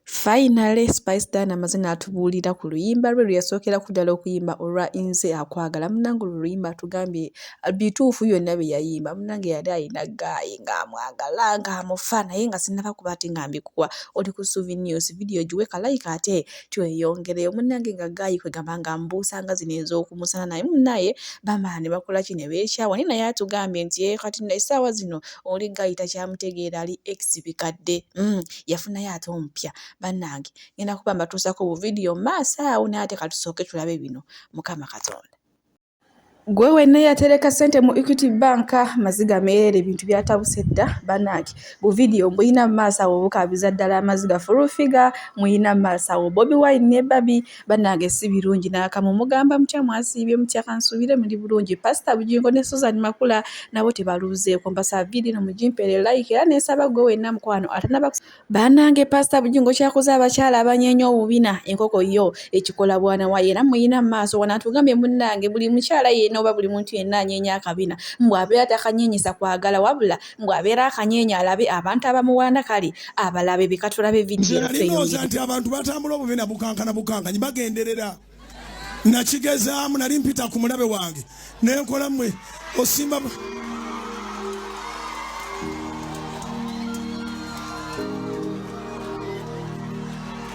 Finally Spice Diana amaze n'atubuulira ku luyimba lwe lwe yasookera ku ddala okuyimba olwa Nze akwagala munnange olwo oluyimba atugambye uh, bituufu byonna bye yayimba munnange yali alina ggaayi ng'amwagala ng'amufa naye nga sinnaba kuba ate nga mbikuwa oli ku Suvi News vidiyo giwe kalayika ate tweyongereyo munnange nga ggaayi kwe gamba nga mbuusa nga zino ez'okumusana naye munnaye bamala ne bakola ki ne beekyawa naye naye atugambye nti ye eh, kati essaawa zino oli ggaayi takyamutegeera ali ex bikadde mm. yafunayo ate omupya bannange ngenda kuba mbatuusako buvidiyo maaso awo naye ate katusooke tulabe bino mukama katonda gwe wenna yatereka sente mu equity bank maziga meerere ebintu byatabuse dda banaaki bu vidiyo mbuyina mu maaso awo obukabiza ddala amaziga fulufiga muyina mu maaso awo bobi wine ne babi Bannange si birungi n'akamu. Mugamba mutya, mwasiibye mutya, ka nsuubire muli bulungi. Pasita Bugingo ne Suzan Makula nabo tebaluuzeeko. Mbasaba vidiyo eno mugimpere like era ne nsaba ggwe wenna mukwano atanaba Bannange Pasita Bugingo kyakoze abakyala abanyeenya obubina enkoko yo ekikola bwana waayo era muyina mu maaso wano atugambye munnange buli mukyala yenna oba buli muntu yenna anyeenya akabina mbu abeera takanyeenyesa kwagala wabula mbu abeera akanyeenya alabe abantu abamuwaana kale abalabe bikatulabe vidiyonalinoza nti abantu batambula obubi na bukankana bukankanyi bagenderera nakigezaamu nali mpita ku mulabe wange nenkola mwe osimba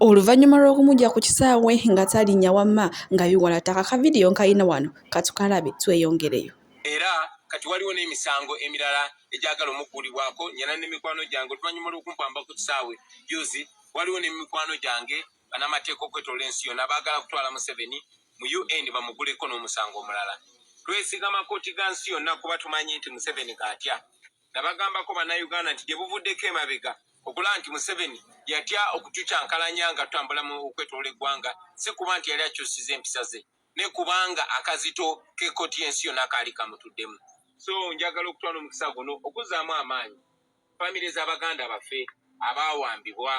Oluvannyuma lw'okumuggya ku kisaawe nga talinnya wamma nga biwala ttaka, ka vidiyo nkalina wano katukalabe tweyongereyo. Era kati waliwo n'emisango emirala egyagala omugguulibwako nnyina ne mikwano gyange oluvannyuma lw'okumpamba ku kisaawe jjuuzi. Waliwo ne mikwano gyange bannamateeka okwetoloola ensi yonna abaagala kutwala Museveni mu UN bamugguleko n'omusango omulala. Twesigama kkooti ga nsi yonna kuba tumanyi nti Museveni g'atya. nabagambako bannayuganda nti gye buvuddeko emabega okulaba nti museveni yatya okutucankalanya nga tutambula mu okwetoola eggwanga si kuba nti yali akyusiza empisa ze ne kubanga akazito k'ekkooti y'ensi yonna kaali kamutuddemu so njagala okutwala omukisa guno okuzzaamu amaanyi famire z'abaganda baffe abaawambibwa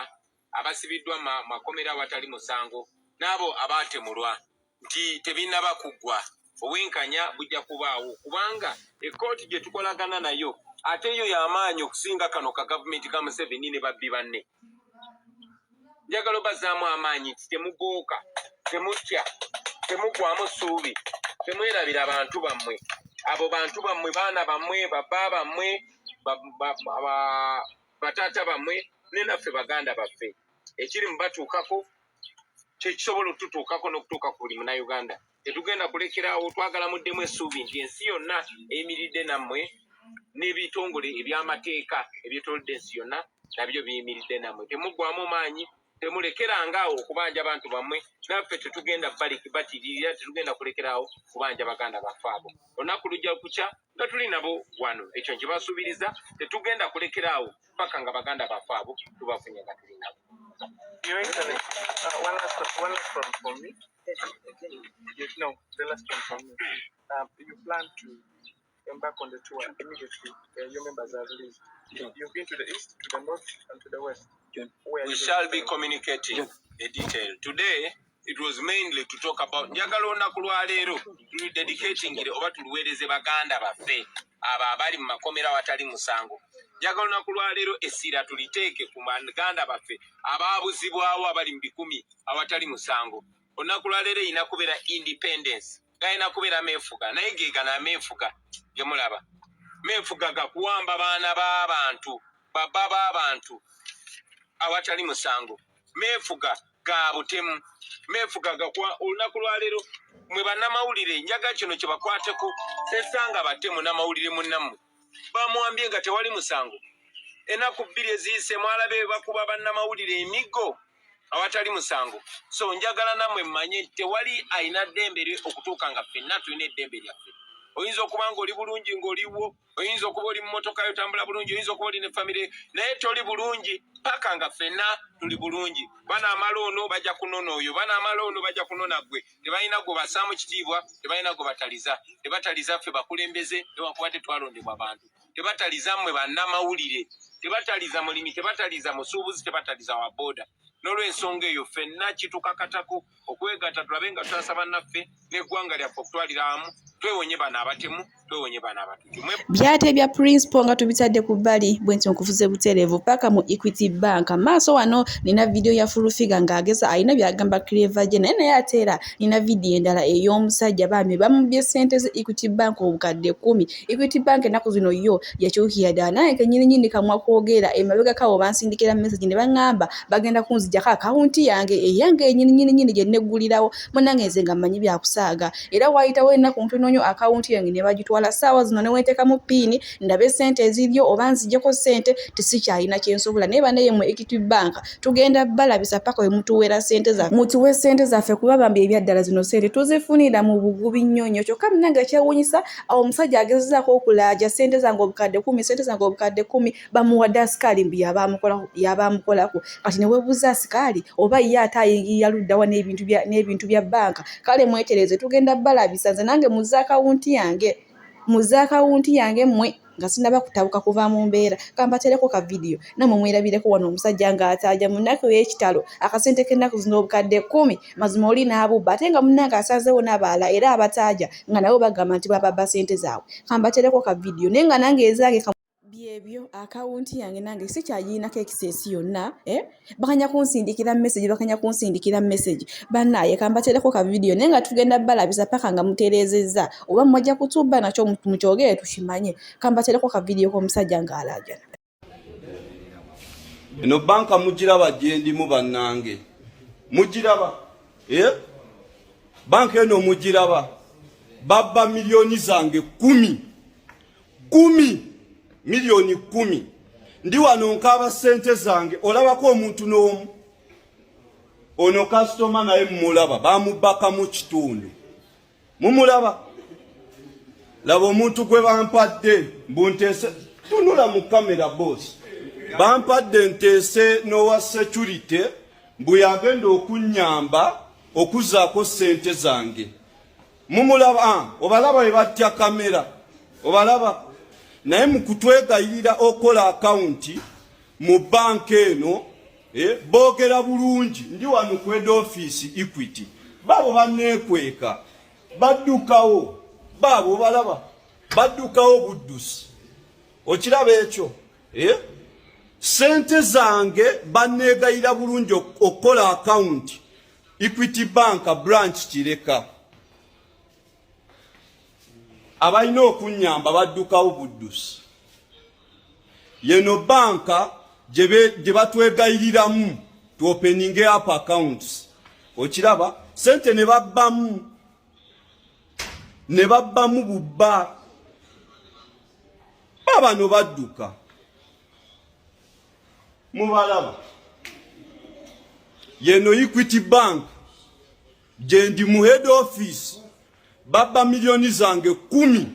abasibiddwa mu makomera awatali musango n'abo abaatemulwa nti tebinnaba kuggwa, obwenkanya bujja kubaawo kubanga ekkooti gye tukolagana nayo ate yo ya maanyi okusinga kano ka gavumenti ka Museveni ne babbi banne. Njagala obazzaamu amaanyi nti temugooka, temutya, temuggwamu ssuubi, temwerabira bantu bammwe. Abo bantu bammwe, baana bammwe, babba bammwe, bataata bamwe ne naffe baganda baffe ekiri mu batuukako kyekisobola okututuukako n'okutuuka ku buli munauganda tetugenda kulekerawo twagala muddemu essuubi nti ensi yonna eyimiridde nammwe n'ebitongole eby'amateeka ebyetolodde ensi yonna nabyo biyimiridde nammwe temuggwamu maanyi temulekeranga awo okubanja abantu bamwe naffe tetugenda batiririra tetugenda kulekeraawo kubanja baganda baffe abo olunaku lujja kukya nga tuli nabo wano ekyo nkibasuubiriza tetugenda kulekeraawo paka nga baganda baffe abo tubafunye nga tuli nabo Your Excellency, uh, one last, one last one for me. Yes, no, the last one for me. Um, you plan to embark on the tour immediately uh, your members are released. Sure. You've been to the east, to the north, and to the west. Sure. Where we shall be communicating sure. the detail. Today, it was mainly to talk about njagala olunaku lwa leero tulidedicatingire oba tuluweereze baganda baffe abo abali mu makomera awatali musango njagala olunaku lwa leero essira tuliteeke ku baganda baffe abaabuzibwawo abali mu bikumi awatali musango olunaku lwa leero erina kubeera independence galina kubeera meefuga naye gegana meefuga gemulaba meefuga gakuwamba baana b'abantu baba b'abantu awatali musango meefuga ga butemu meefuga gakuwa olunaku lwaleero mwe bannamawulire njaga kino kyebakwateko sesanga batemu namawulire munnammwe bamwambye nga tewali musango enaku bbiri eziyise mwalabe bakuba bannamawulire emiggo awatali musango so njagala namwe mmanye tewali alina ddembe lye okutuuka nga ffenna tulina eddembe lyaffe oyinza okuba nga oli bulungi ngaoliwo oyinza okuba oli mumotoka yo tambula bulungi oyinza okuba oli ne famire naye toli bulungi paka nga ffenna tuli bulungi banaamala ono bajja kunona oyo banaamala ono bajja kunona gwe tebalina gwe basaamu kitiibwa tebalina gwe bataliza tebataliza ffe bakulembeze newankubadde twalondebwa abantu tebataliza mmwe bannamawulire tebataliza mulimi tebataliza musuubuzi tebataliza wa booda n'olwensonga eyo ffenna kitukakatako okwegatta tulabe nga tusasa bannaffe n'eggwanga lyaffe okutwalira amu twewonye bano abatemu twewonye bana abatuju byate bya principal nga tubitadde ku bbali bwenti nkuvuze buterevu paka mu equity bank maaso wano nina video ya full figure nga ageza alina byagamba clever je naye naye ate era nina video endala ey'omusajja bambi bamubye sente ze equity bank obukadde kumi equity bank ennaku zino yo yakyukira ddala naye kenyini nyini kamwa kwogera emabega kawo bansindikira message ne bangamba bagenda kunzijako akawunti yange eyange enyini nyini nyini gye neggulirawo munange nze nga mmanyi byakusaaga era waayitawo ennaku ntono nnyo akawunti yange ne bagitwala ssaawa zino ne wenteekamu piini ndabe ssente eziriyo oba nzijeko ssente tisikyalina kye nsobola naye banaye mu equity bank tugenda balabisa paka we mutuweera ssente zaffe mutuwe ssente zaffe kuba bambi ebyaddala zino ssente tuzifunira mu bugubi nnyo nnyo kyokka munange kyewunyisa awo omusajja agezezaako okulaaja ssente zange obukadde kumi ssente zange obukadde kumi bamuwadde asikaali mbu yaba amukolako kati newebuuza asikaali oba ye ate ayingirira luddawa n'ebintu bya bbanka kale mwetereze tugenda balabisa nze nange muze akawunti yange muze akawunti yange mwe nga sinaba kutabuka kuva mu mbeera kambatereko ka vidiyo namwe mwerabireko wano omusajja ng'ataaja mu nnaku ey'ekitalo akasente k'ennaku zino obukadde kkumi mazima oli n'abubba ate nga munnange asanzeewo n'abaala era abataaja nga nabo bagamba nti bababba sente zaabwe kambatereko ka vidiyo naye nga nange ezange byebyo akawunti yange nange sikyagirinako ekiseesi yonna eh? bakanya kunsindikira message bakanya kunsindikira message banaye kambatereko ka video naye nga tugenda balabisa paka nga muterezeza oba mwajja kutuba nakyo mukyogere tukimanye kambatereko ka video komusajja nga alajana eno banka mugiraba gyendimu bannange mugiraba eh? banka eno mugiraba babba miliyoni zange kumi kumi miliyoni kumi ndi wano nkaaba sente zange olabako omuntu n'omu ono kasitoma naye mumulaba bamubaka mu kitundu mumulaba laba omuntu gwe bampadde mbuntese tunula mu kamera boosi bampadde nteese n'owa security mbu yagenda okunnyamba okuzaako sente zange mumulaba ah, obalaba webatya kamera obalaba naye mukutwegayirira okola akawunti mu banka eno eh, bogera bulungi ndi wano kweda ofiisi equity baabo banekweka baddukawo baabo obalaba baddukawo buddusi okiraba ekyo eh? sente zange banneegayira bulungi okukola akawunti Equity Bank branch Kireka abalina okunyamba baddukawo buddusi yeno banka gye batwegayiriramu to opening up accounts okiraba sente ne babbamu ne babbamu bubba babano badduka mubalaba yeno equity bank gyendi mu head office babba miliyoni zange kumi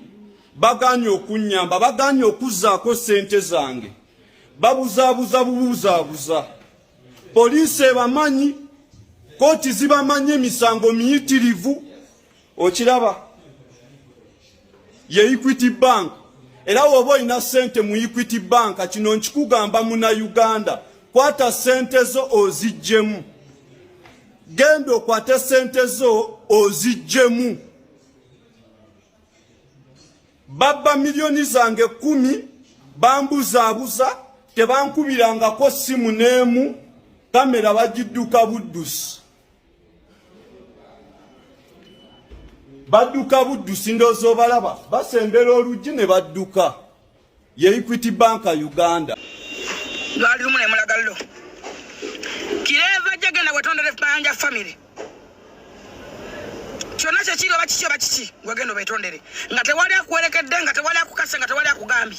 baganye okunyamba baganye okuzaako sente zange babuzabuza bubuzabuza poliisi ebamanyi kooti zibamanyi emisango miyitirivu okiraba ye equity bank era woba olina sente mu equity banka kino nkikugamba muna uganda kwata sente zo ozijjemu genda okwate sente zo ozijjemu babba miliyoni zange kumi bambuzaabuza tebankubirangako simu n'emu kamera bagidduka buddusi badduka buddusi ndoozi obalaba basembera oluggi ne badduka ye equity banka uganda lwali lumu nemulagallo kireeva jagenda wetondere banja famiry kyonna kyekiri oba kiki oba kiki wagenda obetondere nga tewali akuwerekedde nga tewali akukase nga tewali akugambye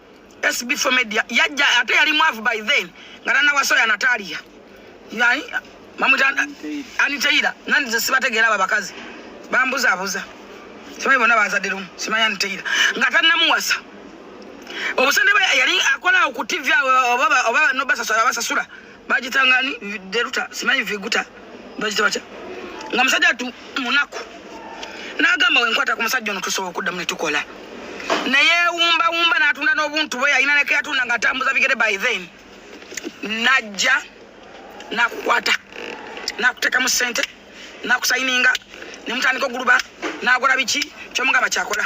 SB for media yajja ate yali mwavu by then nga tanawasoya Natalia yani mamuta aniteira nani nze sibategeera abo abakazi bambuzabuza simanyi bona bazadde lumu simanyi aniteira nga tanamuwasa obusente yali akola ku tv oba nobasasula bagita ngani deruta simanyi viguta bagita batya nga musajja tu munaku n'agamba wenkwata ku musajja ono tusobola okuddamu ne tukola naye wumbawumba n'atunda n'obuntu bwe yalina neke yatunda nga atambuza bigere by then najja nakukwata nakutekamu sente nakusayininga nemutandika oguluba nagula biki kyomugamba kyakola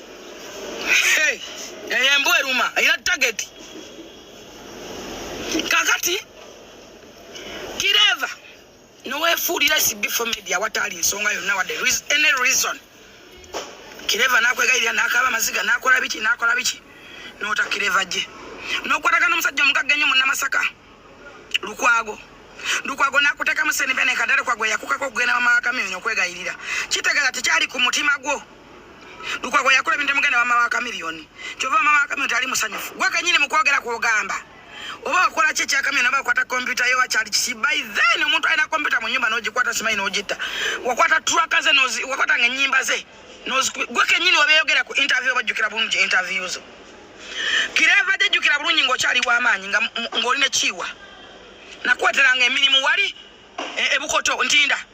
Hey, eyo embwa eruma erina tageti kakati kireva nowefuulira sibifo media wataali nsonga yonna wadde any reason kireva nakwegayirira nakaba amaziga nakola biki nakola biki nota kireva gye nokwatagana omusajja omugagga ennyo munamasaka lukwago lukwago nakutekamu senivene kadale kwagwe yakukako okugenda mamawakamyonyo okwegayirira kitegeza tekyali ku mutima gwo lukwago yakola ebintu muganda wama wa kamiliyoni kyova wama wa kamiliyoni tali musanyufu gwe kenyini mukwogera kwogamba oba wakola ki ekyakamyoni oba wakwata kompyuta yo wakyali kiki by then omuntu alina kompyuta mu nyumba nogikwata simanyi nogitta wakwata traka ze wakwata nga enyimba ze gwe kenyini wabeyogera ku interview obajjukira bulungi interview zo kireva jejjukira bulungi ngaokyali wamaanyi ngaoli nekiiwa nakwateranga emirimu wali e, ebukoto ntinda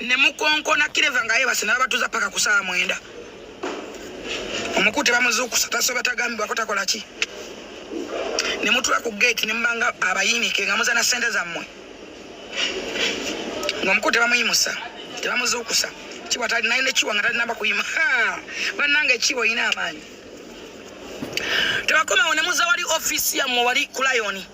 ne mukonkona kireva nga yebase nabatuza paka kusala mwenda omukute bamuzukusa tasoba tagambibwa ko takola ki ne mutula ku gate ne mubanga abayinike nga muzana sente zammwe nga omukute bamuyimusa tebamuzukusa kiwa tali naye nekiwa nga talinaba kuyima banange ekiwa oyina amaanyi tebakomawo ne muza wali ofisi yammwe wali kulayoni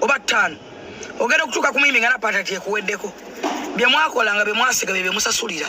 oba ttaano ogenda okutuuka ku muyimi nga napatati ekuweddeko bye mwakola nga bye mwasiga bye bye musasulira